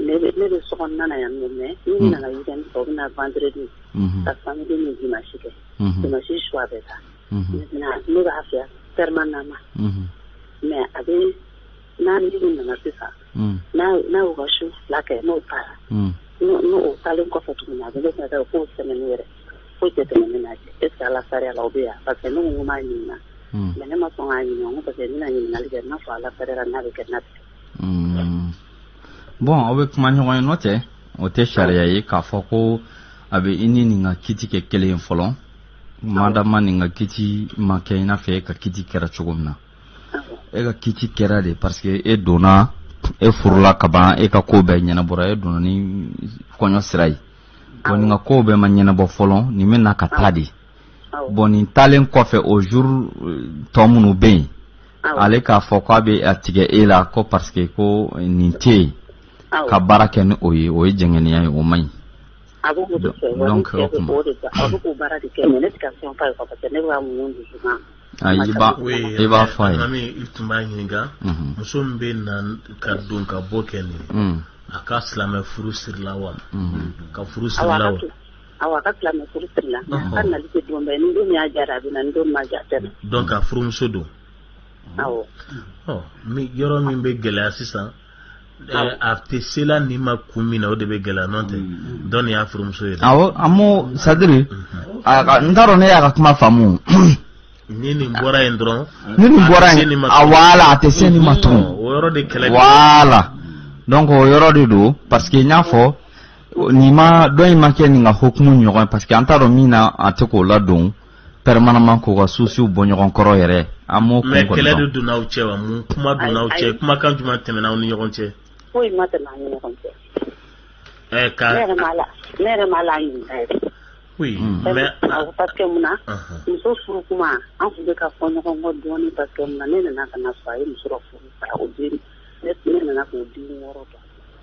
Ne bɛ so nana yan mɛn mɛ n nana weekend a bɛ na vendredi ka samedi ni dimanche kɛ dimanche soir a bɛ taa ne b'a fɛ permanemment mais a bɛ n'a ni nana sisan n'a y'u ka su fila kɛ n'o taara n'o taalen kɔfɛ tuguni na a bɛ ne k' semaine yɛrɛ ko jate tɛmɛ min na est-ce que ala sariya la o bɛ yan parce que ne ko b'a ɲini na mais ne ma sɔn k'a ɲini parce que ne ɲininkali kɛ n'a fɔ ala sariya n'a bɛ kɛ na bɔn aw bɛ kuma ɲɔgɔn ye nɔntɛ o tɛ sariya ye k'a fɔ ko a bɛ i ni nin ka kiti kɛ kelen ye fɔlɔ madama nin ka kiti ma kɛ i n'a fɔ e ka kiti kɛra cogo min na e ka kiti kɛra de parce que e donna e furula ka ban e ka ko bɛɛ ɲɛnabɔra e donna ni kɔɲɔ sira ye bɔn nin ka ko bɛɛ ma ɲɛnabɔ fɔlɔ nin bɛ na ka taa de bɔn nin taalen kɔfɛ o jour euh, tɔ minnu bɛ yen ale k'a fɔ k'a bɛ a tigɛ e la ko parce que ko nin tɛ yen ka baara kɛ ni o ye o ye jɛngɛniya ye o man ɲi a b'o de kɛ wa ne cɛ bɛ k'o de kɛ a bɛ k'o baara de kɛ mais ne tɛ ka fɛn f'a ye parce que ne b'a mun dusuma ayi b'a i b'a fɔ a ye ami i tun b'a ɲininka muso min bɛ na ka don ka bɔ kɛ nin a ka silamɛ furu sirila wa ka furu sirila wa Awɔ a ka silamɛ furu sirila ka na se don bɛɛ ni a diyara a bɛ na don ma diya donc a furumuso don yɔrɔ min bɛ gɛlɛya sisan a tɛ sela ni ma kun min na o de bɛ gɛlɛya nɔntɛ dɔn y'a furumuso ye an c'est-à-dire n taara ne y'a ka kuma faamu ni nin bɔra yen dɔrɔn ni nin bɔra a a tɛ se ni ma tun o yɔrɔ de kɛlɛ voilà donc o yɔrɔ de don parce que n y'a fɔ Ni ma don i ma kɛ nin ka hukumu ɲɔgɔn parce que an taara don min na a tɛ k'o ladon permanemment k'u ka susiw bɔ ɲɔgɔn kɔrɔ yɛrɛ an mɔ mais kɛlɛ de don aw cɛ wa mun kuma don aw cɛ kumakan jumɛn tɛmɛna aw ni ɲɔgɔn cɛ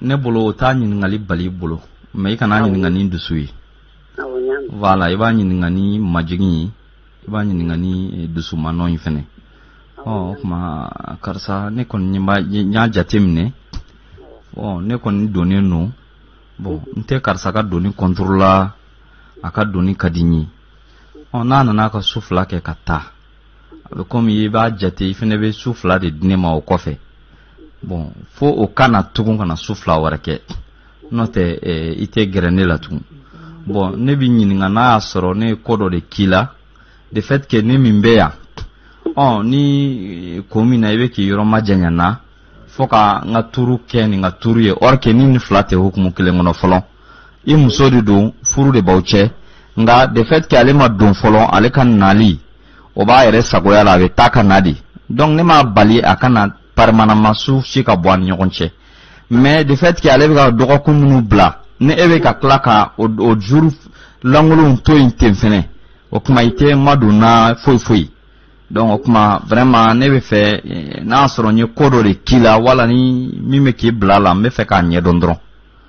ne bolo o t'a ɲininkali bali i bolo mais i kana ɲininka ni dusu ye voilà i b'a ɲininka ni majigin ye i b'a ɲininka ni eh, dusumanɔ in fɛnɛ ɔ o kuma karisa ne kɔni n y'a jate minɛ ɔ ne kɔni donnen don bɔn n tɛ karisa ka donni kɔntorola a ka donni ka di n ye ɔ n'a nana a ka su fila kɛ ka taa a bɛ komi i b'a jate i fɛnɛ bɛ su fila de di ne ma o kɔfɛ bon fo o ka na tugun kana su fila wɛrɛ kɛ n'o tɛ i tɛ gɛrɛ ne la tugun bon ne b'i ɲininka n'a y'a sɔrɔ ne ye ko dɔ de k'i la de fait que ne min bɛ yan ɔ ni ko min na i bɛ k'i yɔrɔ majanya n na fo ka n ka tuuru kɛ nin ka tuuru ye or que ni nin fila tɛ hukumu kelen kɔnɔ fɔlɔ i muso de don furu de b'aw cɛ nka de fait que ale ma don fɔlɔ ale ka nali o b'a yɛrɛ sagoya la a bɛ taa ka na de donc ne m'a bali a ka na permanamment su si ka bɔ a ni ɲɔgɔn cɛ mais de fait que ale bɛ ka dɔgɔkun minnu bila ni e bɛ ka tila ka o o jour lankolonw to yen ten fɛnɛ o kuma i tɛ madon n na foyi foyi donc o kuma vraiment ne bɛ fɛ eh, n'a sɔrɔ n ye ko dɔ de k'i la wala ni min bɛ k'i bila a la n bɛ fɛ k'a ɲɛdɔn dɔrɔn.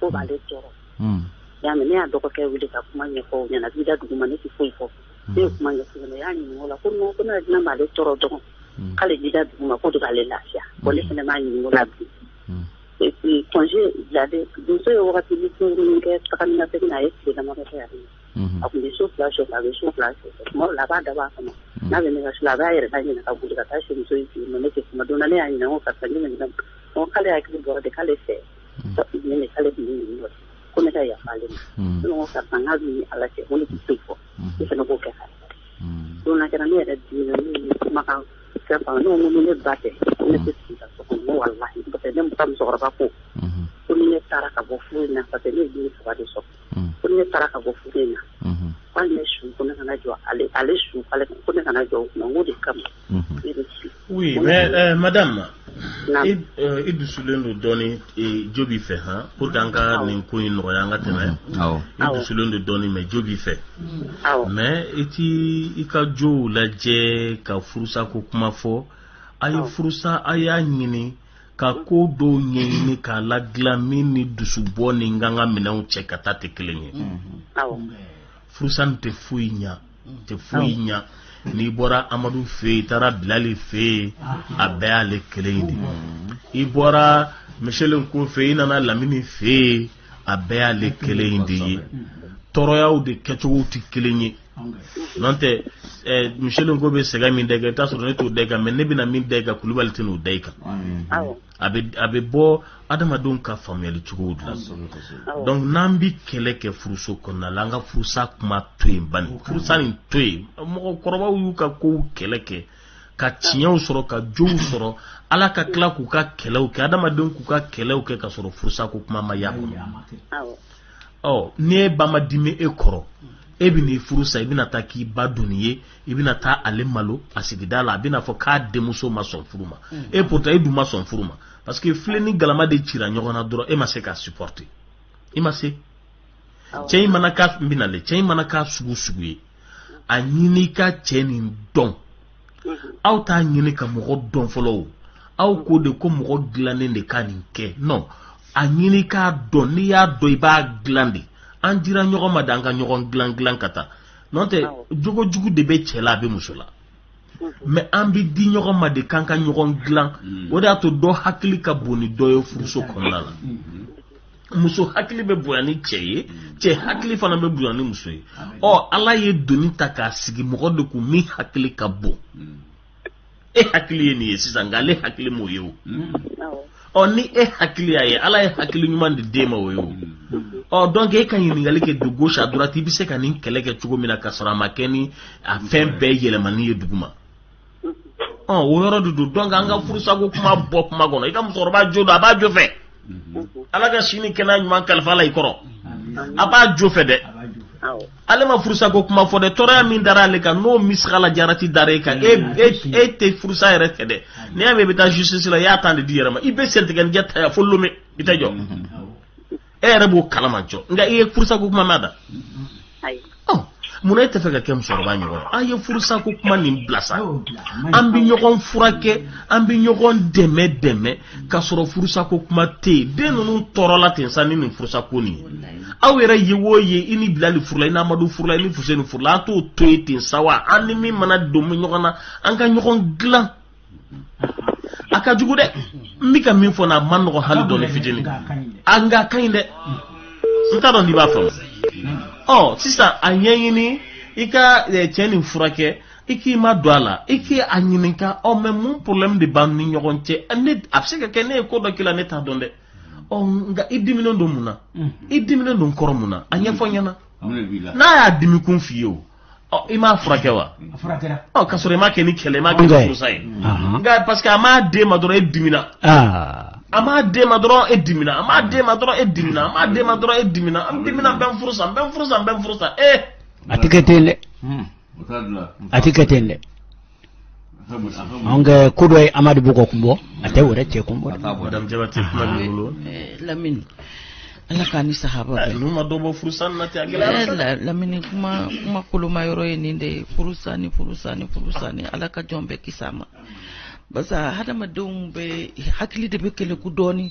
ko b'ale tɔɔrɔ y'a mɛ ne y'a dɔgɔkɛ wele ka kuma ɲɛfɔ o ɲɛna b'i da dugu ma ne tɛ foyi fɔ ne ye kuma ɲɛfɔ ɲɛna y'a ɲininka o la ko non ko ne hakilina b'ale tɔɔrɔ dɔrɔn k'ale b'i da dugu ma k'o de b'ale lafiya bon ne fana m'a ɲininka o la bi et puis congé bilalen don so ye wagati ni kunkuruni kɛ tagali na seginna a ye tile damadɔ kɛ yan a tun bɛ su fila sɔrɔ a bɛ su fila sɔrɔ tuma dɔ la a b'a dabɔ a kama n'a bɛ ne ka so la a b'a yɛrɛ da ɲinɛ ka boli ka taa si muso in fɛ yen nɔ ne tɛ kuma don na ne y'a ɲininka ko karisa ne ma ɲinɛ k'ale hakili bɔra de k'ale fɛ Mm. Ka ne ne k'ale tun bɛ nin nɔ fɛ. Ko ne ka yafa ale ma. Mm. Ne ko ka ban k'a b'i ni Ala cɛ ko ne tɛ foyi fɔ. Mm. Ne fana b'o kɛ k'a lajɛ. Mm. Don na kɛra ne yɛrɛ dimina ne ye kumakan fɛn fɔ a la. Ne ko n ko ni ne ba tɛ ko ne tɛ sigi ka so kɔnɔ. N ko walahi parce que ne ka musokɔrɔba ko Mhm. ko ni ne taara ka bɔ furu in na parce que ne ye den saba de sɔrɔ. Mm. Ko ni ne taara ka bɔ furu in na Mhm. k'ale ne su ko ne kana jɔ ale ale su k'ale ko ne kana jɔ o kunna n k'o de kama. Mhm. oui mais euh, madame i euh, dusulen don dɔɔni jo b'i fɛ han pour que an ka nin ko in nɔgɔya an ka tɛmɛ mhm. i dusulen don dɔɔni mais jo b'i fɛ mais i t'i ka jow lajɛ ka furusa ko kuma fɔ a ye furusa a y'a ɲini ka ko dɔw ɲɛɲini k'a ladilan min ni dusubɔ ni n ka n ka minɛnw cɛ ka taa tɛ kelen ye furusa nin tɛ foyi ɲa tɛ foyi ɲa n'i bɔra amadu fɛ yen i taara bilali fɛ yen a bɛɛ y'ale kelen in de i bɔra miselen ko fɛ yen i nana lamini fɛ yen a bɛɛ y'ale kelen in de ye tɔɔrɔyaw de kɛcogow tɛ kelen ye n'o tɛ eh, miselen ko bɛ sɛgɛn min da i kan i bɛ t'a sɔrɔ ne t'o da i kan mais ne bɛna min da i kan kulubali tɛn'o da i kan a bɛ a bɛ bɔ adamadenw ka faamuyali cogow de la donc n'an bɛ kɛlɛ kɛ furuso kɔnɔna la an ka furusa kuma to yen bani furusa nin to yen mɔgɔkɔrɔbaw y'u ka kow kɛlɛ kɛ ka tiɲɛw sɔrɔ ka jow sɔrɔ a la ka kila k'u ka kɛlɛw kɛ adamadenw k'u ka kɛlɛw kɛ ka sɔrɔ furusa ko kuma ma y'a kɔnɔ ɔ n'e ba ma dimi e kɔrɔ e bɛn'i furu sa i bɛna taa k'i ba doni ye i bɛna taa ale malo a sigida la a bɛna fɔ k'a denmuso ma sɔn furu ma mm. et pourtant e dun ma sɔn furu ma parce que filen ni galama de cira ɲɔgɔn na dɔrɔn e ma se k'a supporter i ma se cɛ in mana k'a bɛna lɛ cɛ in mana kɛ sugu sugu ye a ɲini i ka cɛ nin dɔn mm-hmm. aw t'a ɲini ka mɔgɔ dɔn fɔlɔ o aw ko de ko mɔgɔ dilannen de ka ɲi kɛ non a ɲini k'a dɔn n'i y'a dɔn i b'a dilan de an dira ɲɔgɔn ma de an ka ɲɔgɔn dilan dilan ka taa n'o tɛ jogo jugu de bɛ cɛ la a bɛ muso la mais an bɛ di ɲɔgɔn ma de k'an ka ɲɔgɔn dilan o de y'a to dɔ hakili ka bon ni dɔ ye furuso kɔnɔna la muso hakili bɛ bonya ni cɛ ye cɛ hakili fana bɛ bonya ni muso ye ɔ ala ye doni ta k'a sigi mɔgɔ de kun min hakili ka bon e hakili ye nin ye sisan nka ale hakili m'o ye o ɔ ni e hakili y'a ye ala ye hakili ɲuman de d'e ma o ye o ɔ donc e ka ɲininkali kɛ de gauche à droite i bɛ se ka nin kɛlɛ kɛ cogo min na ka sɔrɔ a ma kɛ ni a fɛn bɛɛ yɛlɛmani ye duguma ɔ o yɔrɔ de don donc an ka furusako kuma bɔ kuma kɔnɔ i ka musokɔrɔba jo don a b'a jo fɛ ala ka sini kɛnɛ ɲuman kalifa la i kɔrɔ a b'a jo fɛ dɛ ale ma furusako kuma fɔ dɛ tɔɔrɔya min dara ale kan n'o misigala jarati dara e kan e e e tɛ furusa yɛrɛ fɛ dɛ n'i y'a mɛn i bɛ taa justice la i y'a tan de di yɛrɛ ma i bɛ sɛntigɛlijɛ ta yan fo lome i tɛ jɔ e yɛrɛ b'o kalama jɔ nka i ye furusako kuma mɛn da munna e tɛ fɛ ka kɛ musokɔrɔba ɲɔgɔn a ye furusako kuma nin bila sa an bɛ ɲɔgɔn furakɛ an bɛ ɲɔgɔn dɛmɛ dɛmɛ ka sɔrɔ furusako kuma tɛ yen den ninnu tɔɔrɔla ten sa ni nin furusako nin ye aw yɛrɛ ye o ye i ni bilali furula i ni amadu furula i ni fuseni furula an t'o to yen ten sa wa an ni min mana don ɲɔgɔn na an ka ɲɔgɔn dilan a ka jugu dɛ n bɛ ka min fɔ nin a man nɔgɔ hali dɔɔni fitini a nka a ka ɲi dɛ n t'a dɔn n'i b'a faamu ɔ sisan a ɲɛɲini i ka cɛ nin furakɛ i k'i madon a la i k'a ɲininka ɔ mais mun problème de b'an ni ɲɔgɔn cɛ ne a bɛ se ka kɛ ne ye ko dɔ k'i la ne t'a dɔn dɛ ɔ nka i diminen don mun na i diminen don n kɔrɔ mun na a ɲɛfɔ n ɲɛna n'a y'a dimi kun f'i ye o ɔ i m'a furakɛ wa ɔ ka sɔrɔ i m'a kɛ ni kɛlɛ i m'a kɛ ni furusa ye nka parce que a m'a d'e ma dɔrɔn e dimina a m'a d'e ma dɔrɔn e dimina a m'a d'e ma dɔrɔn e dimina a m'a d'e ma dɔrɔn e dimina an dimina n bɛ n furusa n bɛ n furusa n bɛ n furusa ee a tɛ kɛ ten dɛ a tɛ kɛ ten dɛ an kɛ ko dɔ ye amadu bugɔ kun bɔ a tɛ wɛrɛ ci kun bɔ lamini ala k'a ni sahaba bɛɛ n'u ma dɔ bɔ furusa na tɛ a gɛlɛya eh, lamini kuma kuma koloma yɔrɔ ye nin de ye furusa ni furusa ni furusa ni ala ka jɔn bɛɛ kisi a ma barisa hadamadenw bɛɛ hakili de bɛ keleku dɔɔnin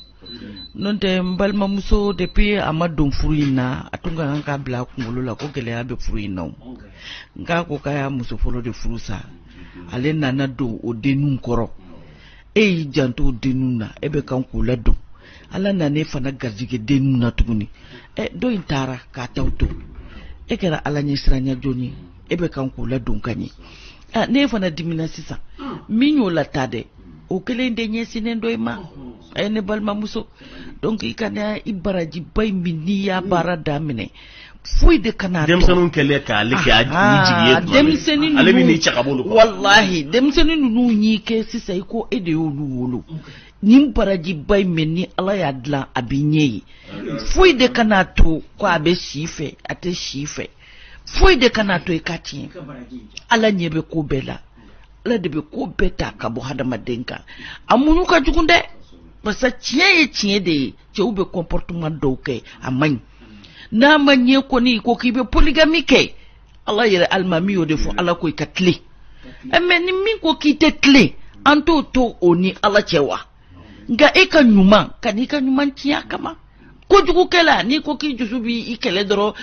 n'o tɛ n balimamuso depuis a ma don furu in na a tun ka kan k'a bila a kunkolo la ko gɛlɛya bɛ furu in na o nka ko k'a y'a muso fɔlɔ de furusa ale nana don o denninw kɔrɔ e y'i janto o denninw na e bɛ kan k'u ladon ala nana e fana garijɛgɛ denninw na tuguni ɛ dɔ in taara k'a taw to e kɛra ala ɲɛsiranya jɔn ye e bɛ kan k'u ladon ka ɲɛ ne fana dimina sisan min y'o lata dɛ o kelen de ɲɛsinnen don i ma a ye ne balimamuso donc i kana i barajiba in min n'i y'a mm. baara daminɛ foyi de kana denmisɛnninw kɛlen k'ale kɛ a jigi ye denmisɛnnin ninnu ale bɛ n'i cɛ ka b'olu kɔrɔ walahi denmisɛnnin ninnu y'i kɛ sisan i ko e de y'olu wolo nin barajiba in min ni ala y'a dilan a b'i ɲɛ yen foyi de kana to ko a bɛ si i fɛ a tɛ si i fɛ foyi de kana to i k'a tiɲɛ ala ɲɛ bɛ ko bɛɛ la ala de bɛ ko bɛɛ ta ka bɔ hadamaden kan a muɲu ka jugu dɛ parce que tiɲɛ ye tiɲɛ de ye cɛw bɛ comportement dɔw kɛ a man ɲi n'a ma ɲɛ kɔ n'i ko k'i bɛ polygamie kɛ ala yɛrɛ alimami y'o de fɔ ala ko i ka tilen mais ni min ko k'i tɛ tilen an t'o to o ni ala cɛ wa nka e ka ɲuman kan'i ka ɲuman tiɲɛ a kama kojugukɛla n'i ko k'i dusu b'i kɛlɛ dɔrɔn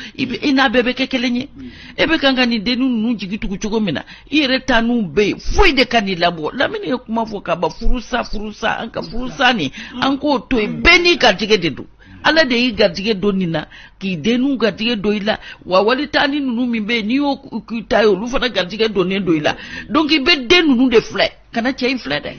i n'a bɛɛ bɛ kɛ kelen ye e bɛ kan ka nin denni ninnu jigi tugu cogo min na i yɛrɛ ta ninnu bɛ yen foyi de kan'i labɔ Lamini ye kuma fɔ ka ban furusa furusa an ka furusa nin an k'o to yen bɛɛ n'i garijɛgɛ de don ala de y'i garijɛgɛ don nin na k'i denninw garijɛgɛ don i la wa wali ta ninnu min bɛ yen n'i y'o k'i ta ye olu fana garijɛgɛ donnen don i la donc i bɛ den ninnu de filɛ kana cɛ in filɛ dɛ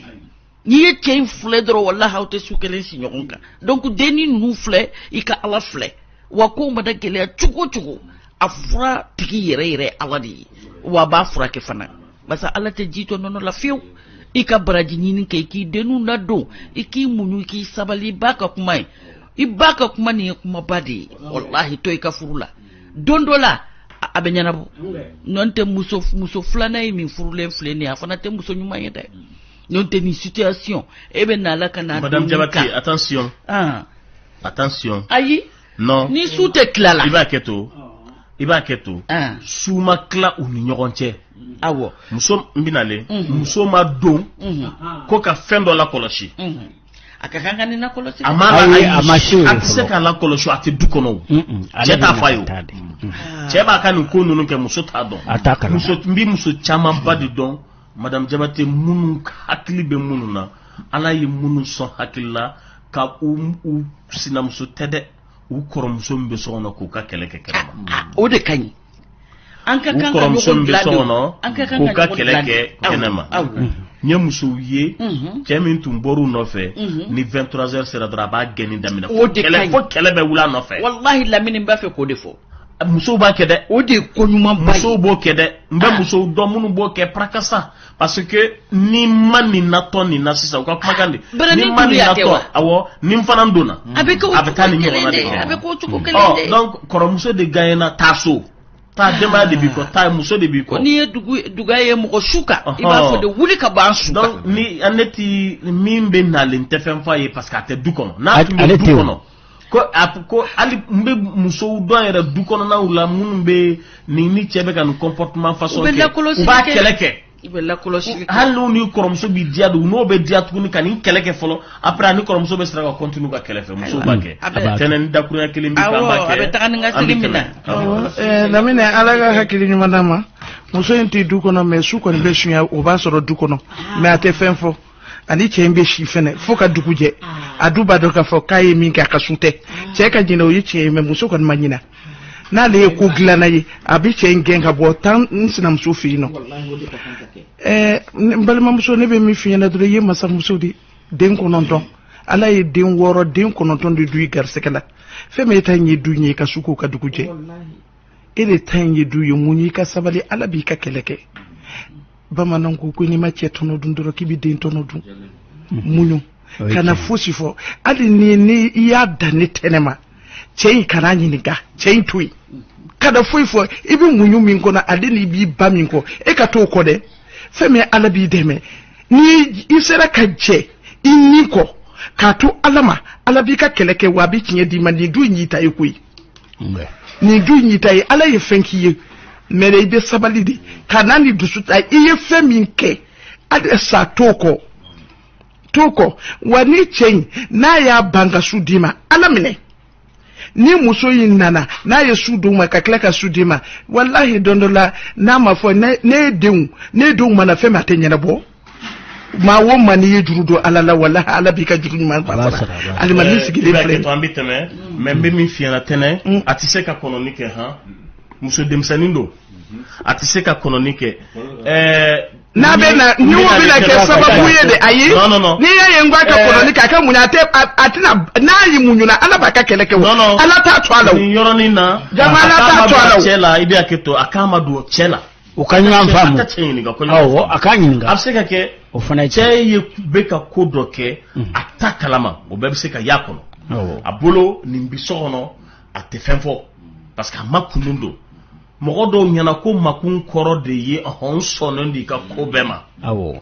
n'i ye cɛ in filɛ dɔrɔn walahi aw tɛ su kelen si ɲɔgɔn kan donc denni ninnu filɛ i ka ala filɛ wa ko mana gɛlɛya cogo o cogo a fura tigi yɛrɛ yɛrɛ ala de ye wa a b'a furakɛ fana parce que ala tɛ ji to nɔnɔ la fiyewu i ka baraji ɲini kɛ i k'i denninw ladon i k'i muɲu i k'i sabali i ba ka kuma ye i ba ka kuma nin ye kumaba de ye walahi to i ka furu la don dɔ la a bɛ ɲɛnabɔ n'o tɛ muso muso filanan ye min furulen filɛ nin ye a fana tɛ muso ɲuman ye dɛ n'o tɛ nin situation e bɛ na la ka na madame Jabate attention ah. attention ayi non ni su tɛ tila la i b'a kɛ to i b'a kɛ to ah. su ma tila u ni ɲɔgɔn cɛ awɔ muso n bɛnalen mhm. muso ma don mhm. ko ka fɛn dɔ lakɔlɔsi mhm. a ka kan ka nin lakɔlɔsi a ma a tɛ se k'a lakɔlɔsi a tɛ du kɔnɔ o cɛ t'a f'a ye o cɛ b'a ka nin ko ninnu kɛ muso t'a dɔn muso n bɛ muso camanba de dɔn madame jabate minnu hakili bɛ minnu na ala ye minnu sɔn hakili la ka u u sinamuso tɛ dɛ u kɔrɔmuso min bɛ so kɔnɔ k'u ka kɛlɛ kɛ kɛnɛma ah, ah, o de ka ɲi an ka kan ka ɲɔgɔn bila don an ka kan ka kɛlɛ kɛ kɛnɛma n ye musow ye mhm. cɛ min tun bɔr'u nɔfɛ mhm. ni 23 heures sera dɔrɔn a b'a gɛnni daminɛ o de ka ɲi fo kɛlɛ bɛ wuli a nɔfɛ walahi lamini b'a fɛ k'o de fɔ musow b'a kɛ dɛ o de ye ko ɲuman ba musow b'o kɛ dɛ n bɛ ah. musow dɔn minnu b'o kɛ parakasa parce que ni ma nin natɔ nin na sisan u ka kumakan de ah, ni ma nin natɔ awɔ ni n fana donna a bɛ kɛ a bɛ taa nin ɲɔgɔnna de a bɛ k'o cogo kelen de donc kɔrɔmuso de gagnena taa so taa ah. denbaya de b'i kɔ taa muso de b'i kɔ n'i ye duga ye mɔgɔ su kan i b'a fɔ de wuli ka bɔ an su kan donc ni ne ti min bɛ nalen tɛ fɛn f'a ye parce que a tɛ du kɔnɔ n'a tun bɛ du kɔnɔ ko a ko hali n bɛ musow dɔn yɛrɛ du kɔnɔnaw la minnu bɛ nin ni cɛ bɛ ka nin comportement façon kɛ u b'a kɛlɛ kɛ i bɛ lakɔlɔsili hali n'u ni kɔrɔmuso bɛ diya don n'o bɛ diya tuguni ka nin kɛlɛ kɛ fɔlɔ après ani kɔrɔmuso bɛ sira ka continue ka kɛlɛ fɛ musow b'a kɛ tɛnɛ ni dakuruɲa kelen bɛ kɛ an b'a kɛ a bɛ taga ni ka segin min na ɛɛ lamini ala ka hakili ɲuman d'a ma muso in tɛ du kɔnɔ mais su kɔni bɛ sunya o b'a sɔrɔ du kɔnɔ mais a tɛ fɛn fɔ a ni cɛ in bɛ si fɛnɛ fo ka dugu jɛ a dun b'a dɔn k'a fɔ k'a ye min kɛ a ka su tɛ cɛ ka ɲinɛ o ye tiɲɛ ye mais muso kɔni ma ɲinɛ n'ale ye ko dilanna ye a bɛ cɛ in gɛn ka bɔ taa n sinamuso fɛ yen nɔ ɛɛ n balimamuso ne bɛ min f'i ɲɛna dɔrɔn i ye masamuso de den kɔnɔntɔn ala ye den wɔɔrɔ den kɔnɔntɔn de don i garisɛgɛ la fɛn min e ta in ye du ye ka su ko ka dugu jɛ e de ta in ye du ye muɲu i ka sabali ala b'i ka kɛlɛ kɛ bamananw ko ko n'i ma cɛ tɔnɔ dun dɔrɔn k'i bɛ den tɔnɔ dun muɲu kana fosi fɔ hali ni ni i y'a dan ne tɛnɛ ma cɛ in kana ɲininka cɛ in to yen kana foyi fɔ i bɛ muɲu min kɔnɔ ale n'i b'i ban min kɔ e ka t'o kɔ dɛ fɛn min ala b'i dɛmɛ ni i sera ka jɛn i ni kɔ k'a to ala ma ala b'i ka kɛlɛ kɛ wa a bɛ tiɲɛ d'i ma nin du in y'i ta ye koyi nin du in y'i ta ye ala ye fɛn k'i ye mɛ i bɛ sabali de kana nin dusu ta i ye fɛn min kɛ hali sa t'o kɔ t'o kɔ wa ni cɛ in n'a y'a ban ka su d'i ma ala minɛ ni muso in nana n'a ye su d'o ma ka tila ka su d'i ma walahi don dɔ la n'a ma fɔ ne denw ne denw mana fɛn min a tɛ ɲɛnabɔ maa o maa n'i ye juru don ala la walahi ala b'i ka juru ɲuman fa alimami sigilen filɛ an bɛ tɛmɛ mais n bɛ min f'i ɲɛna tɛnɛ mm. a tɛ se ka kɔnɔni kɛ han muso denmisɛnnin don a tɛ se ka kɔnɔni kɛ ɛɛ n'a bɛ na ni o bɛna kɛ sababu ye de ayi n'i y'a ye n k'a ka eh. kɔnɔni kɛ ka muɲu a tɛ a tɛna n'a y'i muɲuna ala b'a ka kɛlɛ kɛ o ala t'a to a la o nin yɔrɔnin na a k'a madon cɛ la i bɛ hakili to a k'a madon cɛ la. u ka ɲɔgɔn faamu a ka cɛ ɲininka ko awɔ a ka ɲininka a bɛ se ka kɛ o fana cɛ ye bɛ ka ko dɔ kɛ mm. a t'a kalama o bɛɛ bɛ se ka y'a kɔnɔ a bolo nin bi so kɔnɔ a tɛ fɛn fɔ parce que a makunnen don mɔgɔ dɔw ɲɛna ko makun kɔrɔ de ye ɔhɔn sɔnnen d'i ka ko bɛɛ ma awɔ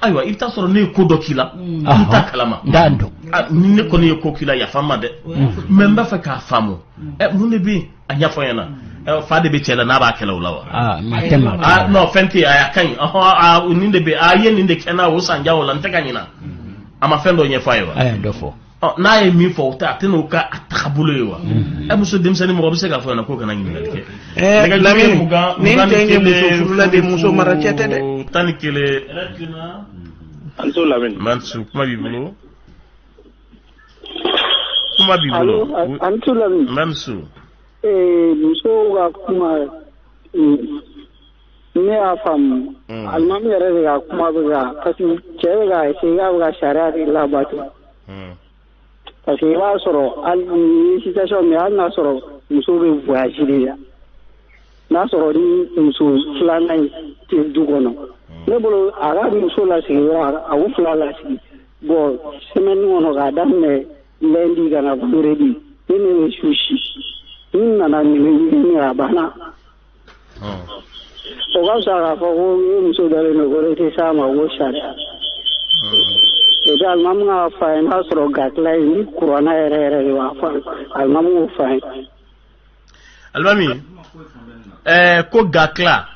ayiwa i bɛ t'a sɔrɔ ne ye ko dɔ k'i la n t'a kalama ni ne kɔni ye ko k'i la yafa n ma dɛ mɛ n b'a fɛ k'a faamu mun de bɛ a ɲɛfɔ ɲɛna na fa de bɛ cɛ la n'a b'a kɛlɛ o la wa fɛn tɛ a ka ɲi nin de bɛ a ye nin de kɛ n na o san ja o la n tɛ ka ɲina a ma fɛn dɔ ɲɛfɔ ye wa n'a ye min fɔ o ta a tɛ n'o ka taabolo ye wa e muso denmisɛnnin mɔgɔ bɛ se k'a fɔ ɲɛna k'o kana ɲininkali kɛ muso mara cɛ tɛ dɛ tan ni kelen kuma b'i bolo kuma b'i bolo muso ka kuma Ne y'a faamu alimami yɛrɛ de ka kuma bɛ parce que cɛ yɛrɛ ka se ka sariya de labato parce que i b'a sɔrɔ ali situation même hali n'a sɔrɔ muso bɛ voyager yan n'aa sɔrɔ ni muso filanan in tɛ du kɔnɔ ne bolo a ka muso lasigi a k'u fila lasigi bon semaine kɔnɔ k'a daminɛ lundi ka na vendredi minɛ su si n nana nin a banna O ka fisa k'a fɔ ko ni muso dalen don i kɔrɔ i tɛ s'a ma ko sariya et puis alimami k'a fɔ an ye n'a sɔrɔ gatila ye ni kuranɛ yɛrɛ yɛrɛ de b'a fɔ a ye alimami k'o fɔ an ye alimami ɛɛ ko gatila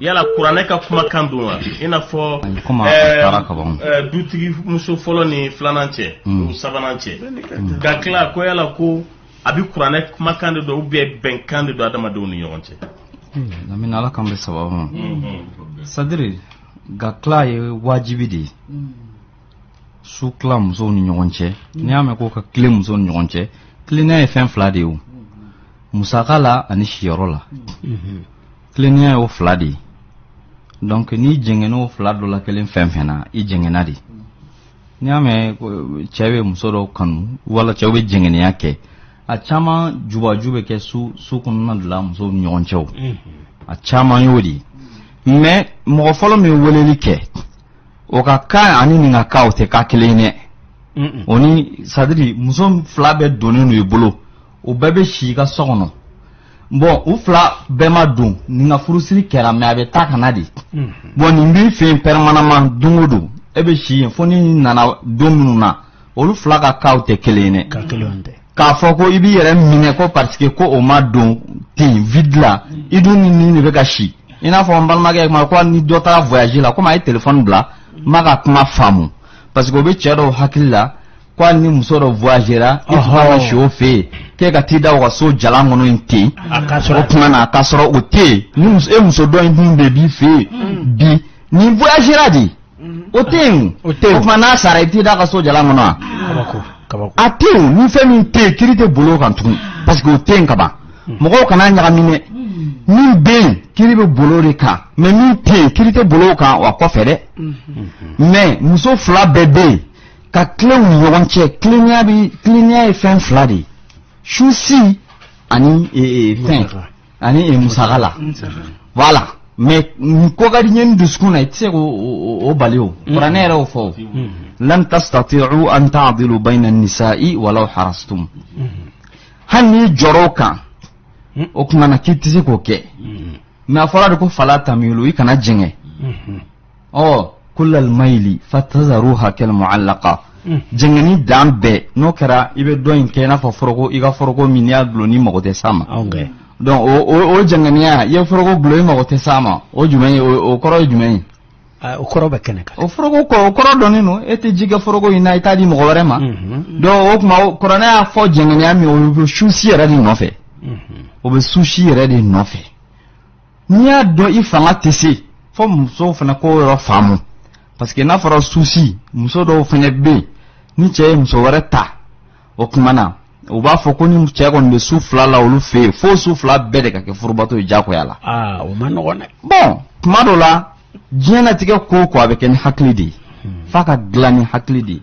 yala kuranɛ ka kumakan don wa i n'a fɔ komi a ɛɛ, taara ka ban. ɛɛ, dutigi muso fɔlɔ ni filanan cɛ o sabanan cɛ gatila ko yala ko a bɛ kuranɛ kumakan de don ou bien bɛnkan de don adamadenw ni ɲɔgɔn cɛ lamini ala k'an bɛɛ sababu ma sadiri gatila ye wajibi de ye su tila musow ni ɲɔgɔn cɛ n'i y'a mɛn ko ka tilen musow ni ɲɔgɔn cɛ tilennenya ye fɛn fila de ye o musaka la ani siyɔrɔ la tilennenya ye o fila de ye donc n'i jɛngɛnna o fila dɔ la kelen fɛn fɛn na i jɛngɛnna de n'i y'a mɛn cɛ bɛ muso dɔw kanu wala cɛw bɛ jɛngɛnnenya kɛ a caman jubaju bɛ kɛ su su kɔnɔna de la musow ni ɲɔgɔn cɛ o a caman y'o de ye mɛ mɔgɔ fɔlɔ min weleli kɛ o ka cas ani nin ka cas o tɛ cas kelen ye dɛ o ni sadiri muso fila bɛɛ donnen don i bolo o bɛɛ bɛ si i ka so kɔnɔ bon u fila bɛɛ ma don nin ka furusiri kɛra mais a bɛ taa ka na de mhm. bon nin b'i fɛ yen permanemment don o don e bɛ si yen fo nin nana don minnu na olu fila ka kaw tɛ kelen ye dɛ k'a fɔ ko i b'i yɛrɛ minɛ ko parce que ko o ma don ten vide la i dun ni nin de bɛ ka si i n'a fɔ n balimakɛ kuma ko ni dɔ taara voyage la komi a ye téléphone bila n m'a ka kuma faamu parce que o bɛ cɛ dɔw hakili la ko hali ni muso dɔ voyagera i tun kan ka si o fɛ yen k'e ka t'i da o ka so jalan kɔnɔ in ten o tuma na k'a sɔrɔ o tɛ yen ni muso e muso dɔ in dun de b'i fɛ yen mm. bi nin voyagera de mm. o tɛ yen o tuma n'a sara i t'i d'a ka so jalan kɔnɔ wa mm. a tɛ yen ni fɛn min tɛ yen kiiri tɛ bol'o kan tugun parce que o tɛ yen ka ban mɔgɔw kana ɲagami dɛ min bɛ yen kiiri bɛ bol'o de kan mais min tɛ yen kiiri tɛ bol'o kan wa kɔfɛ dɛ mais muso fila bɛɛ bɛ yen ka tilen u ni ɲɔgɔn cɛ tilennenya bi tilennenya ye fɛn fila de ye su si ani e, e, fɛn ani e, musaka la voilà mais nin ko ka di n ye n dusukun na i tɛ se k'o bali o mm. kuranɛ yɛrɛ y'o fɔ o mm. lan tastati'u an ta'dilu bayna nisa'i walaw harastum mm. hali n'i jɔr'o kan o tuma na k'i tɛ se k'o kɛ mais a fɔra de ko fala tamilu i kana jɛngɛ mm-hmm. ɔ kullal mayli fatazaruha kal mu'allaqa hmm. jɛngɛni dan bɛɛ n'o kɛra i bɛ dɔ in kɛ i n'a fɔ foroko i ka foroko min n'i y'a dulon n'i mago tɛ s'a ma donc o o o jɛngɛniya i ye foroko dulon i mago tɛ s'a ma o jumɛn ye o kɔrɔ ye jumɛn ye Ah, o kɔrɔ bɛ kɛnɛ kan o foroko kɔ o kɔrɔ dɔnnen don e tɛ ji kɛ foroko in na i t'a di mɔgɔ wɛrɛ ma mhm. donc o tuma kuranɛ y'a fɔ jɛngɛniya min o bɛ susi yɛrɛ de nɔfɛ mhm. o bɛ susi yɛrɛ de nɔfɛ n'i y'a dɔn i fanga tɛ se fo musow fana k'o yɔrɔ faamu parce que n'a fɔra susi muso dɔw fana bɛ yen ni cɛ ye muso wɛrɛ ta o tuma na u b'a fɔ ko ni cɛ kɔni bɛ su fila la olu fɛ yen fo su fila bɛɛ de ka kɛ furubato ye diyagoya la. aa o ma nɔgɔn dɛ. bon tuma dɔ la diɲɛlatigɛ ko o ko a bɛ kɛ ni hakili de ye hmm. f'a ka dilan ni hakili de ye.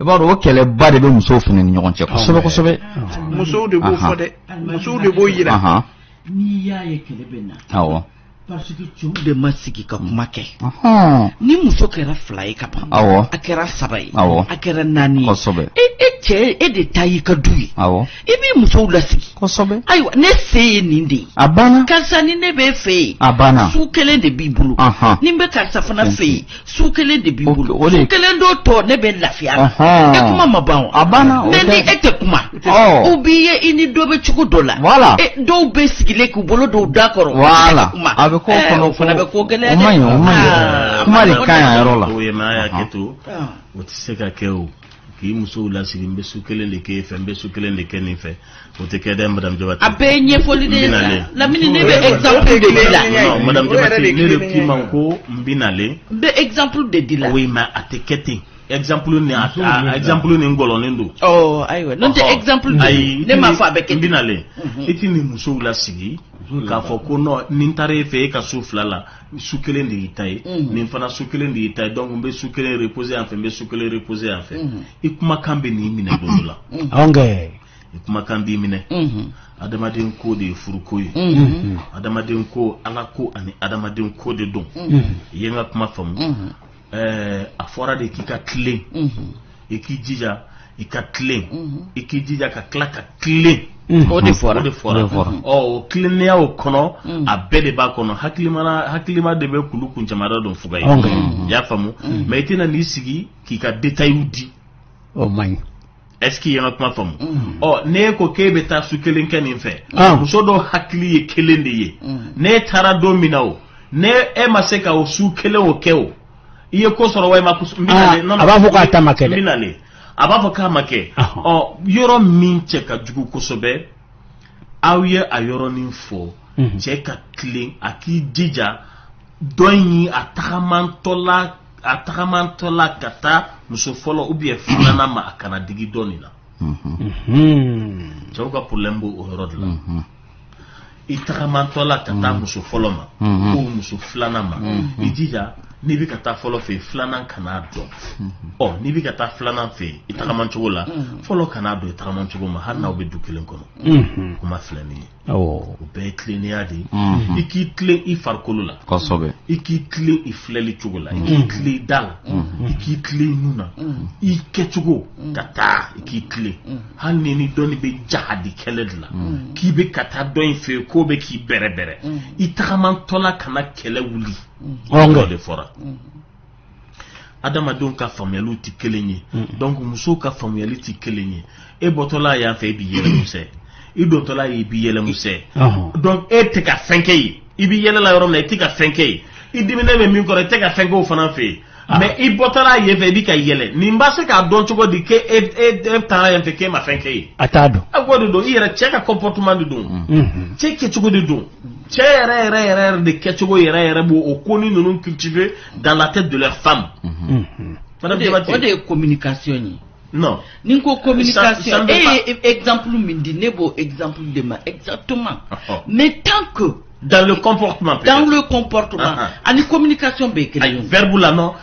i b'a dɔn o kɛlɛba de bɛ musow fana ni ɲɔgɔn cɛ kosɛbɛ kosɛbɛ musow de b'o fɔ dɛ musow de b'o yira n'i y'a ye kɛlɛ bɛ na awɔ parce que cɛw de ma sigi ka kuma kɛ ni muso kɛra fila ye ka ban awɔ a kɛra saba ye awɔ a kɛra naani ye kosɛbɛ e e cɛ e de ta y'i ka du ye awɔ i b'i musow lasigi kosɛbɛ ayiwa ne se ye nin de ye a banna karisa ni ne b'e fɛ yen a banna su kelen de b'i bolo ni n bɛ karisa fana fɛ yen su kelen de b'i bolo su kelen dɔ tɔ ne bɛ lafiya la e kuma ma ban a banna mais ni e tɛ kuma u b'i ye i ni dɔ bɛ cogo dɔ la e, dɔw bɛ sigilen k'u bolo don u da kɔrɔ kuma a bɛ ko kɔnɔ o fana bɛ ko gɛlɛya dɛ kuma de ka ɲi a yɔrɔ la o tɛ se ka kɛ o k'i musow lasigi n bɛ su kelen de k'e fɛ n bɛ su kelen de kɛ nin fɛ o tɛ kɛ dɛ madame Jabate. a bɛɛ ye ɲɛfɔli de ye sa Lamini ne bɛ exemple de di la. non madame Jabate ne de k'i ma ko n bɛ nalen. n bɛ exemple de di la. oui mais a tɛ kɛ ten. exemple ni a exemple ni ngɔlɔnen don. ɔ ayiwa n'o tɛ exemple de ayi ne m'a fɔ a bɛ kɛ. n bɛ nalen i tɛ n'i musow lasigi k'a fɔ ko non ni n taara e fɛ e ka su fila la. su kelen de y'i ta ye mhm. nin fana su kelen de y'i ta ye donc n bɛ su kelen reposer yan fɛ n bɛ su kelen reposer yan fɛ mhm. i kumakan bɛ n'i minɛ don dɔ la mhm. ah, i kumakan b'i minɛ adamaden ko de ye furuko ye adamaden ko ala ko ani adamaden ko de don i ye n ka kuma faamu ɛɛ a fɔra de k'i ka tilen i k'i jija i ka tilen i k'i jija ka tila ka tilen o de fɔra o de fɔra ɔ o tilennenya o kɔnɔ a bɛɛ de b'a kɔnɔ hakilima hakilima de bɛ kulu kuncamada dɔn fuga ye i y'a faamu mais i tɛna n'i sigi k'i ka détails di o man ɲi est-ce que i ye n ka kuma faamu mm. ɔ n'e ko k'e bɛ taa su kelen kɛ nin fɛ ah. muso dɔ hakili ye kelen de ye mm. n'e taara don min na o ne e ma se ka o su kelen o kɛ o i ye ko sɔrɔ walima n bɛna ah, le a b'a fɔ k'a ta ma kɛ dɛ n bɛna le a b'a fɔ k'a ma kɛ ɔ yɔrɔ min cɛ ka jugu kosɛbɛ aw ye a yɔrɔnin fɔ mm-hmm. cɛ ka tilen a k'i jija dɔ in a tagamantɔla a tagamantɔla ka taa muso fɔlɔ ou bien filanan ma a kana digi dɔ nin na cɛw ka problème b'o yɔrɔ de la i tagamantɔla ka taa muso fɔlɔ ma ko muso filanan ma i jija n'i bɛ ka taa fɔlɔ fɛ yen filanan kan'a dɔn ɔ n'i bɛ ka taa filanan fɛ yen i tagamacogo la fɔlɔ kan'a dɔn i tagamacogo ma hali n'aw bɛ du kelen kɔnɔ kuma filɛ nin ye o bɛɛ ye tilennenya de ye i k'i tilen i farikolo la i k'i tilen i filɛli cogo la i k'i tilen i da la i k'i tilen i nun na i kɛcogo ka taa i k'i tilen hali n'i ni dɔ nin bɛ jahadi kɛlɛ de la k'i bɛ ka taa dɔ in fɛ yen k'o bɛ k'i bɛrɛbɛrɛ i tagamantɔla kana kɛlɛ wuli o de fɔra adamadenw ka faamuyaliw tɛ kelen ye donc musow ka faamuyali tɛ kelen ye e bɔtɔla yan fɛ i b'i yɛlɛmusɛ i dontɔla yen i b'i yɛlɛmusɛ donc e tɛ ka fɛn kɛ yen i b'i yɛlɛla yɔrɔ min na i tɛ ka fɛn kɛ yen i diminen bɛ min kɔrɔ i tɛ ka fɛn kɛ o fana fɛ yen ah. mais i bɔtɔla yen fɛ i bɛ ka yɛlɛ nin bɛ se k'a dɔn cogo di k'e e e, e taara yan fɛ k'e ma fɛn kɛ yen a t'a dɔn a ko de don i yɛrɛ cɛ ka comportement de don cɛ kɛcogo de don cɛ yɛrɛ yɛrɛ yɛrɛ yɛrɛ de kɛcogo yɛrɛ yɛrɛ b'o o ko ni ninnu cultiver dans la tête de leur femme. Madame O de- Diabate. o de ye communication ye non ni n ko Ça- ça communication ne e veut ye exemple min di ne b'o exemple de ma exactement Ɔhɔ. mais tant que dans le comportement. peut-être. dans le comportement Ah, ah. ani communication bɛɛ ye kelen Ayi, ye verbe la non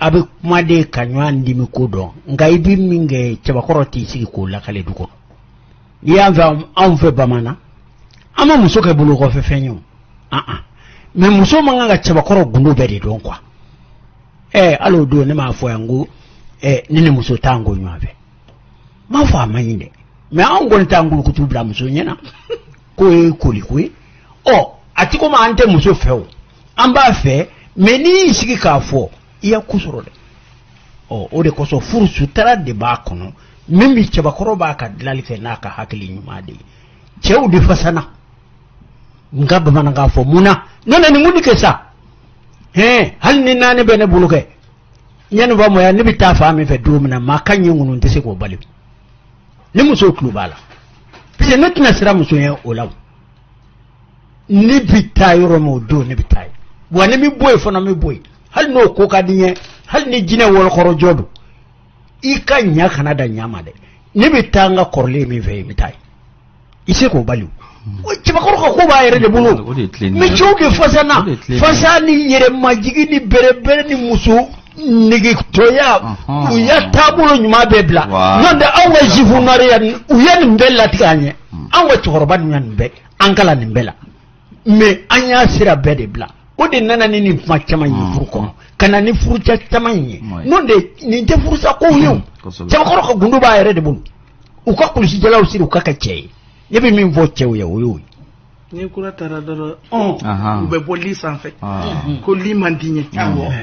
aw bɛ kuma de ka ɲɔgɔn dimi ko dɔn nka i bɛ min kɛ cɛbakɔrɔ t'i sigi k'o lakale du kɔnɔ n'i y'a fɛ anw fɛ bamanan an ma muso kɛ bolo kɔfɛ fɛn ye o mais muso man kan ka cɛbakɔrɔ gundo bɛɛ de dɔn quoi ɛɛ hali o don ne m'a fɔ yan ko ɛɛ ne ni muso t'an ko ɲɔgɔn fɛ n m'a fɔ a man ɲi dɛ mais anw kɔni t'an kulukutu bila muso ɲɛ na k'o ye koliko ye ɔ a ti komi an tɛ muso fɛ o an b'a fɛ mais n'i y'i sigi k'a fɔ i y'a ko sɔrɔ dɛ ɔ o de kosɔn furu sutura de b'a kɔnɔ min bɛ cɛbakɔrɔ b'a ka dilali fɛ n'a ka hakili ɲuman de ye cɛw de fasana n ka bamanankan fɔ mun na ne na nin mun de kɛ sa hɛn hali ni naani bɛ ne bolo kɛ yanni ba mɔya ne bɛ taa fan min fɛ don min na maa ka ɲɛ ŋunu tɛ se k'o bali ni muso tulo b'a la parce que ne tɛna siran muso ɲɛ o la ne bɛ taa yɔrɔ min o don ne bɛ taa yen wa ne bɛ bɔ yen fana n bɛ bɔ yen hali n'o ko ka di n ye hali ni jinɛ wɔlɔkɔrɔjɔ don i ka ɲa kana da ɲa ma dɛ ne bɛ taa n ka kɔrɔlen min fɛ yen n bɛ taa yen i se k'o bali o cɛbakɔrɔ ka ko b'a yɛrɛ de bolo o de ye tilenni ye. mais cɛw de fasana O de ye tilenni ye. fasa ni yɛrɛmajigi ni bɛrɛbɛrɛ ni muso negetɔya Ɔhɔn. u y'a taabolo ɲuman bɛɛ bila Wa. n'o tɛ anw ka zifu nare yan u ye nin bɛɛ latigɛ an ye anw ka cɛkɔrɔba ninnu ye nin bɛɛ kɛ an kalan nin bɛɛ la mais an y'a sira bɛɛ de bila o de nana ni nin kuma caman ye furu kɔnɔ ka na ni furusa caman ye n'o tɛ nin tɛ furusa kow ye cɛbakɔrɔ ka gundo b'a yɛrɛ de bolo u ka kulusijalaw siri u ka kɛ cɛ ye ne bɛ min fɔ cɛw ye o y'o ye ni kura tara dɔrɔn u bɛ bɔ li sanfɛ ko li man di ye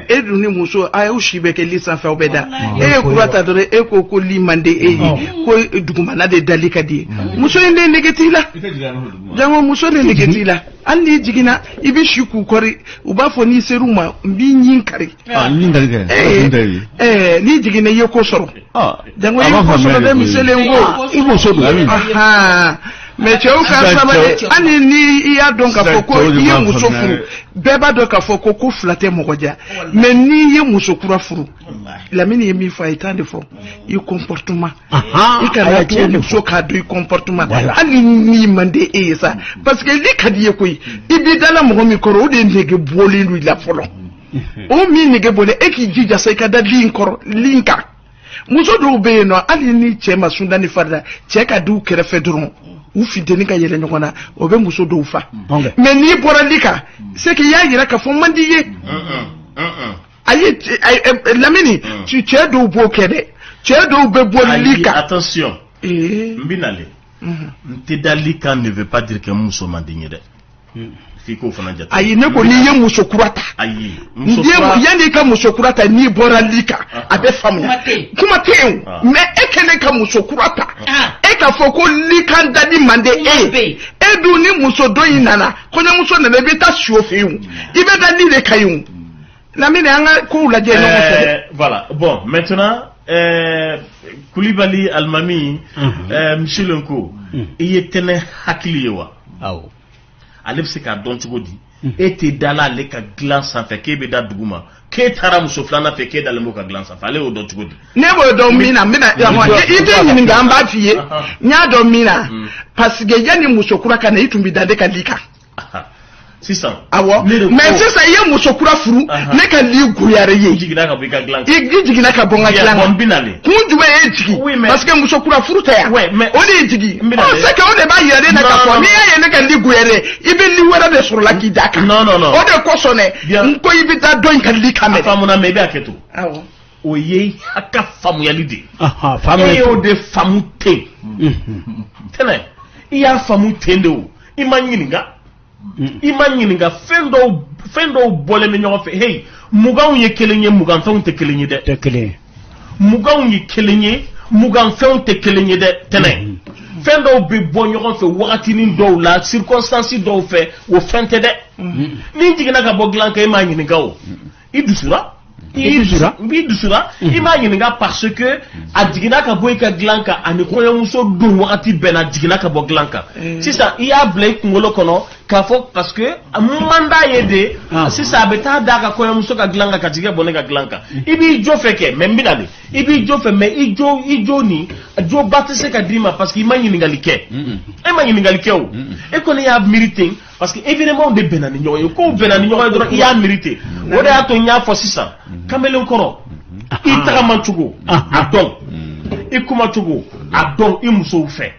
e dun ni muso a y'aw si bɛɛ kɛ li sanfɛ aw bɛ da e ye kura ta dɔrɔn e ko ko li man di e ye ko dugumana de dali ka di ye muso in de nege t'i la jango muso de nege t'i la hali n'i jiginna i bɛ si k'u kɔri u b'a fɔ n'i ser'u ma n b'i ɲin kari n'i jiginna i ye ko sɔrɔ jango i ye ko sɔrɔ dɛ miselen ko i muso don mais cɛw ka sabali hali ni i y'a dɔn k'a fɔ ko i ye muso furu bɛɛ b'a dɔn k'a fɔ ko ko fila tɛ mɔgɔ diya mais n'i ye muso kura furu lamini ye min fɔ a ye tiɲɛ de fɔ i comportement i kana to muso k'a dɔn i comportement hali n'a man di e ye sa parce que li ka di ye koyi i b'i dala mɔgɔ min kɔrɔ o de nege bɔlen don i la fɔlɔ o min nege bɔlen e k'i jija sa i ka da li kɔrɔlen kan muso dɔw bɛ yen nɔ hali ni cɛ ma sunna ni farida cɛ ka d'u kɛrɛfɛ dɔrɔn u funteni ka yɛlɛn ɲɔgɔn na o bɛ muso dɔw fa mais n'i bɔra li kan c'est que i y'a yira k'a fɔ man di ye a ye lamini cɛ dɔw b'o kɛ dɛ cɛ dɔw bɛ bɔ li kan attention n bɛ nalen n tɛ da li kan ne veut pas dire que muso man di n ye dɛ ayi ne ko n'i ye muso kura ta yanni i ka muso kura ta n'i bɔra li kan a bɛ faamuya kuma tɛ yen ah. mais e kɛlen ka muso kura ta ah. e k'a fɔ ko li kan dali man di e ye e dun ni muso dɔ in nana kɔɲɔmuso nana i bɛ taa si o fɛ yen i bɛ da li de kan yen Lamini an ka kow lajɛ ɲɔgɔn fɛ. Ɛɛ voilà bon maintenant ɛɛ Kulibali alimami. Unhun. Ɛɛ monsieur Lenko. Un. I ye Tɛnɛ hakili ye wa? Awɔ. Ale bɛ se k'a dɔn cogo di? Un. E tɛ da la ale ka dilan sanfɛ k'e bɛ da dugu ma k'e taara muso filanan fɛ k'e dalen b'o ka dilan sanfɛ ale y'o dɔn cogo di? Ne b'o dɔn min na n bɛna i Unhun. tɛ ɲininka an b'a f'i ye Unhun. n y'a dɔn min na Unhun. parce que yanni muso kura ka na i tun bɛ da ne ka li kan. sisan awɔ mais sisan i ye muso kura furu ne ka li goyara i ye i jiginna ka bɔ i ka dilan i jiginna ka bɔ n ka dilan kan bi nalen kun jumɛn y'i jigin parce que muso kura furu tɛ yan o de y'i jigin ɔ c'est que o de b'a yira ne na k'a fɔ n'i y'a ye ne ka li goyara i bɛ li wɛrɛ de sɔrɔ la k'i d'a kan o de kosɔn dɛ n ko i bɛ taa dɔ in ka li kan mɛ a faamuna mais i bɛ hakɛ to awɔ o ye a ka faamuyali de ye e y'o de faamu ten tɛnɛ i y'a faamu ten de o i ma ɲininka i ma ɲininka fɛn dɔw fɛn dɔw bɔlen bɛ ɲɔgɔn fɛ heyi muganw ye kelen ye muganfɛnw tɛ kelen ye dɛ tɛ kelen muganw ye kelen ye muganfɛnw tɛ kelen ye dɛ tɛnɛ fɛn dɔw bɛ bɔ ɲɔgɔn fɛ wagatinin dɔw la circonstance dɔw fɛ o fɛn tɛ dɛ n'i jiginna ka bɔ dilan kan e m'a ɲininka o i dusura i dusura i dusura i m'a ɲininka parce que a jiginna ka bɔ i ka dilan kan ani kɔɲɔmuso don wagati bɛnna a jiginna ka bɔ dilan kan eh. sisan i y'a bila i kunkolo kɔnɔ k'a fɔ parce que man d'a ye de ah. sisan a bɛ taa d'a ka kɔɲɔmuso ka dilan kan ka jigin bɔ ne ka dilan kan mm. i b'i jo fɛ kɛ mais n bɛna de i b'i jo fɛ mais i jo i jo nin joba tɛ se ka d'i ma parce que i ma ɲininkali kɛ e ma ɲininkali kɛ o e kɔni y'a miiri ten parce que événement de bɛnna ni ɲɔgɔn ye kow bɛnna ni ɲɔgɔn ye dɔrɔn i y'a miiri ten o de y'a to n y'a fɔ sisan kamalen kɔrɔ i tagama cogo a dɔn i kuma cogo a dɔn i musow fɛ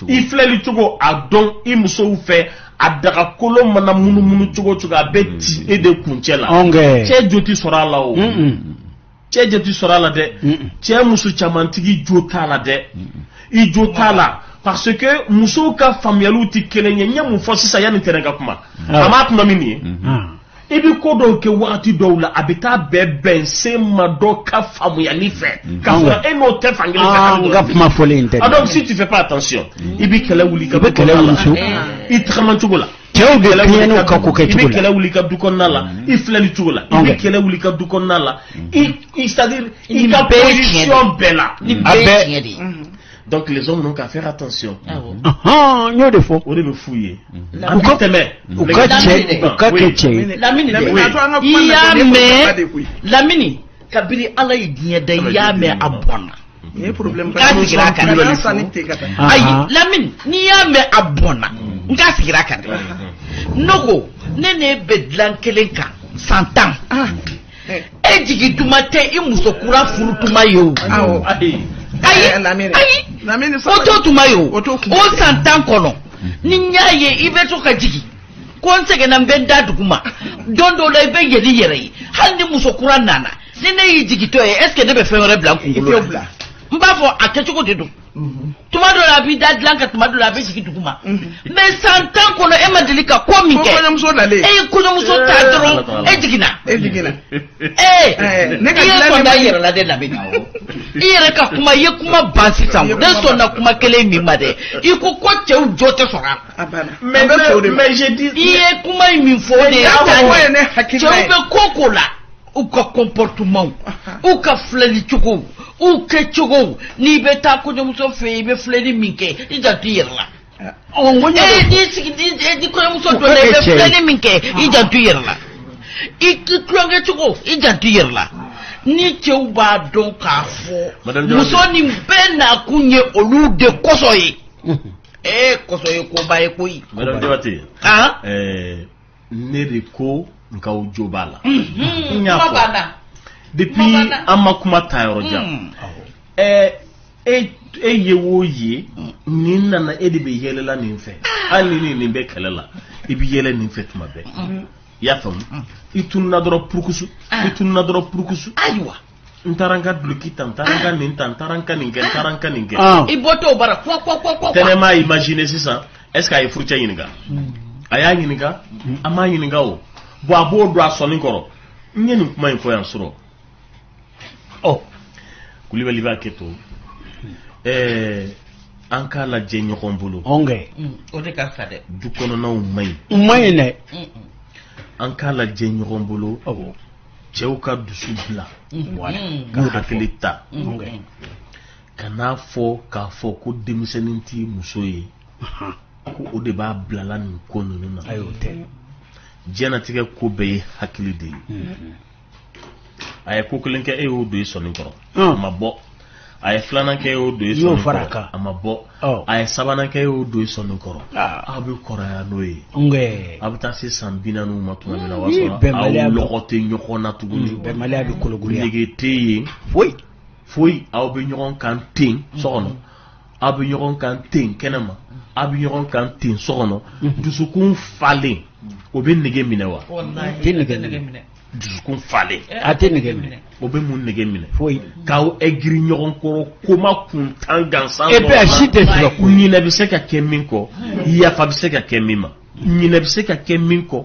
i filɛli cogo a dɔn i musow fɛ a dagakolon mana munumunu cogo cogo a bɛ ci e de kuncɛ la cɛ jo tɛ sɔrɔ a la o cɛ jo tɛ sɔrɔ a la dɛ cɛ muso camantigi jo t'a la dɛ i jo t'a la parce que musow ka faamuyaliw tɛ kelen ye n ye mun fɔ sisan yanni tɛnɛ ka kuma a m'a kuma min ye i bɛ ko dɔw kɛ wagati dɔw la a bɛ taa bɛɛ bɛn se ma dɔ ka faamuyali fɛ k'a sɔrɔ e n'o tɛ fan kelen fɛ ka n ka kuma fɔlen in tɛ a donc si tu fais pas attention i bɛ kɛlɛ wuli ka bɔ kɛlɛ wuli so i tagamacogo la cɛw de kɛɲɛn'u ka ko kɛ cogo la i bɛ kɛlɛ wuli i ka du kɔnɔna la mm. i filɛli cogo la i bɛ kɛlɛ wuli i ka du kɔnɔna la i i c'est à dire i ka position bɛɛ la nin bɛɛ ye tiɲɛ de ye mm-hmm. donc les hommes n'ont qu'à faire attention ah ah, n y'o de fɔ o de bɛ f'u ye mm-hmm. u ka tɛmɛ u ka cɛ u ka kɛ cɛ ye lamini dɛ i y'a mɛn lamini kabini ala ye diɲɛ da i y'a mɛn a bɔnna Ni problème ba ye. N ka sigir'a kan. Ka taa sanni ten ka taa. Ahan. ayi lamini n'i y'a mɛn a bɔnna n kan sigira a kan dɛ ne ko ne n'e bɛ dilan kelen kan san tan e jigin tuma tɛ i muso kura furu tuma ye o Awɔ. ayi Eh, Lamini. ayi Lamini o sabali. t'o tuma ye o O t'o kuma ye. o san tan kɔnɔ ni n y'a ye i bɛ to ka jigin ko n sɛgɛnna n bɛ n da duguma don dɔw la i bɛ yɛlɛn i yɛrɛ ye hali ni muso kura nana ni ne y'i jigintɔ ye est ce que ne bɛ fɛn wɛrɛ bila n kunkolo la n b'a fɔ a kɛcogo de don tuma dɔ la a b'i da dilan kan tuma dɔ la a bɛ jigin dugu ma mais san tan kɔnɔ e ma deli ka ko min kɛ kɔɲɔmuso nalen e ye kɔɲɔmuso ta dɔrɔn e jiginna e jiginna ee ne ka i ye dilan sɔn da i yɛrɛ la dɛ lamini i yɛrɛ ka kuma i ye kuma ban sisan ne sɔnna kuma kelen min ma dɛ i ko ko cɛw jo tɛ sɔrɔ a la a banna Mais, a bɛ mais, so de ma mais je dis. i ye kuma in min fɔ o de ye N'a ko ko ye ne hakilina cɛw ye. bɛ ko ko la u ka comportement u ka filɛli cogow u kɛ cogow n'i bɛ taa kɔɲɔmuso fɛ yen i bɛ filɛli min kɛ i janto i yɛrɛ la. n'i sigi ni kɔɲɔmuso donna i bɛ filɛli min kɛ i janto i yɛrɛ la i tulonkɛ cogo i janto i yɛrɛ la. ni cɛw b'a dɔn k'a fɔ muso nin bɛɛ nakun ye olu de kosɔn ye ee kosɔn ye koba ye koyi. madame jabate. ne de ko nka o jo b'a la mhm. n y'a fɔ depuis an ma kuma ta yɔrɔ jan mm. ɛɛ e e ye o ye mm. nin nana e de bɛ yɛlɛla nin fɛ ah. hali ni nin bɛ kɛlɛ la i bɛ yɛlɛ nin fɛ tuma bɛɛ mm. i y'a faamu i tununna dɔrɔn purukusu ah. i tununna dɔrɔn purukusu ayiwa. n taara n ka duloki ta n taara n ka nin ta n taara n ka nin kɛ n taara n ka nin kɛ ah. i bɔtɔ o bara kɔ kɔ kɔ kɔ tɛnɛ m'a imaginer sisan est ce que a ye furucɛ ɲininka hmm. a y'a ɲininka hmm. a m'a ɲininka o bon a b'o don a sɔnin kɔrɔ n ye nin kuma in fɔ yan surɔ ɔ oh. kulibali bɛ hakɛ to ɛɛ an k'a lajɛ ɲɔgɔn bolo hmm, o de ka fisa dɛ du kɔnɔnaw man ɲi u man ɲi dɛ an k'a lajɛ ɲɔgɔn bolo awɔ cɛw ka dusu bila mm-hmm. ka hakili ta mm-hmm. kan'a fɔ k'a fɔ ko denmisɛnnin t'i muso ye uh-huh. ko o de b'a bilala nin ko ninnu na diɲɛnatigɛ ko bɛɛ ye hakili de ye mm-hmm. a ye ko kelen kɛ e y'o don i sɔnin kɔrɔ a ma bɔ a ye filanan kɛ y'o don i sɔnni kɔrɔ a ma bɔ a ye sabanan kɛ y'o don i sɔnni kɔrɔ aw bɛ kɔrɔya n'o ye aw bɛ taa se san bi naaniw ma tuma min na o y'a sɔrɔ aw lɔgɔ tɛ ɲɔgɔn na tuguni mm, bɛnbaliya bɛ kolokoloya nege tɛ yen foyi foyi aw bɛ ɲɔgɔn kan ten so kɔnɔ aw bɛ ɲɔgɔn kan ten kɛnɛma aw bɛ ɲɔgɔn kan ten so kɔnɔ mm. dusukun falen o bɛ nege minɛ wa tɛ nege minɛ dusukun falen eh, a tɛ nege minɛ o bɛ mun nege minɛ foyi k'aw ɛgiri ɲɔgɔn kɔrɔ kuma kuntan gansan dɔ la si tɛ se ka kun ɲinɛ bɛ se ka kɛ min kɔ yafa bɛ se ka kɛ min ma ɲinɛ bɛ se ka kɛ min kɔ